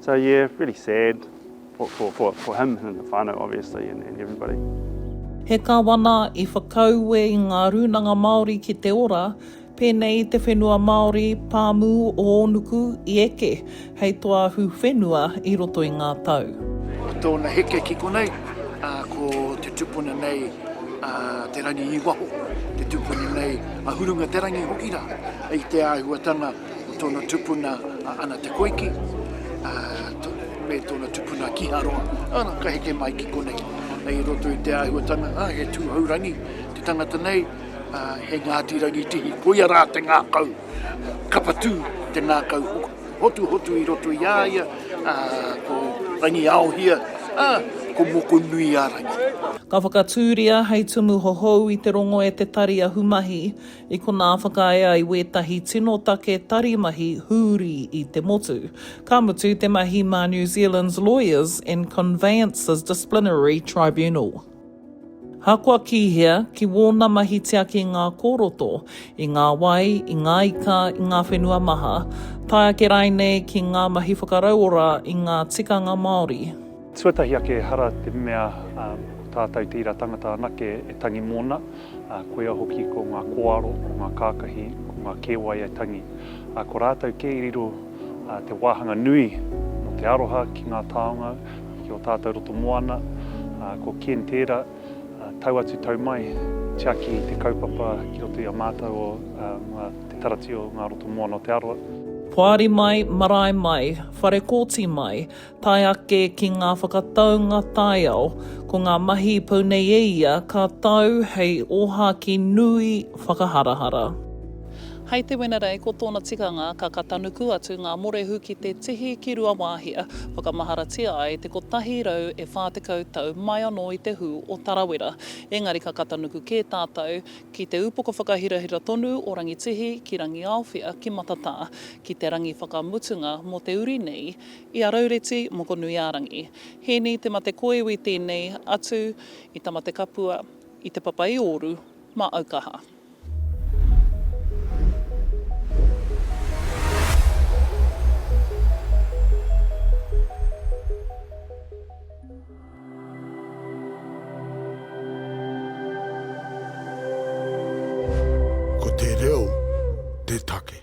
So yeah, really sad for, for, for, for him and the whānau obviously and, and everybody. He Kawana i whakaue i ngā rūnanga Māori ki te ora, pēnei i te whenua Māori, pāmu o Ōnuku i eke hei toahu whenua i roto i ngā tau. Ko tōna heke ki konei, a, ko te tupuna nei a Te Rangi i waho, te tupuna nei a Hurunga Te Rangi hoki rā, i te āhuatanga Ko tōna tupuna a Ana Te Koiki, ā, me tōna tupuna Kiharoa, ana, ka heke mai ki konei. Hei i roto i te āhuatanga, ā, he tūhourangi te tangata nei, ā, he Ngāti Rangitihi, koia rā te ngākau, kapatū te ngākau hotuhotu i roto i a ia, ā, ko Rangiaohia, ā, ko Mokonuiārangi. Ka whakatūria hei tumu hohou i te rongo e te tari ahumahi, I konā whakaae ai wētahi tino take tari mahi hūri i te motu. Ka mutu te mahi mā New Zealand's Lawyers and Conveyancers Disciplinary Tribunal. Ahakoa ki hea, ki wōna mahi tiaki ngā kōroto, i ngā wai, i ngā ika, i ngā whenua maha, tae ake rainei ki ngā mahi whakarauora i ngā tikanga Māori. Tuatahi ake ehara te mea ko tātou tērā tangata anake e tangi mōna, koia hoki ko ngā kōaro, ko ngā kākahi, ko ngā kēwai e tangi. Ko rātou kē i riro te wāhanga nui mō te aroha ki ngā taonga, ki ō tātou roto moana. Ko Ken tērā, tau atu tau mai, tiaki te kaupapa ki roto i a mātou o mua te Taratio ngā roto moana o Te Arawa. Poari mai, marae mai, whare kōti mai, Tae ake ki ngā whakataunga taiao, ko ngā mahi i pau nei e ia ka tau hei ōhākī nui whakaharahara. Hei te Wenerei, ko tōna tikanga, ka katanuku atu ngā morehu ki te tihi ki Ruawāhia, whakamaharatia ai te 140 tau mai anō i te hū o Tarawera. Engari ka katanuku kē tātou ki te upoko whakahirahira tonu o Rangitihi ki Rangiaowhia ki Matatā, ki te rangi whakamutunga mō te uri nei I a Raureti Mokonuiārangi. Hēni Te Matekoiwi tēnei atu i Tamatekapua, i Te Papa-i-ōru, mā Aukaha. Ko te reo te take.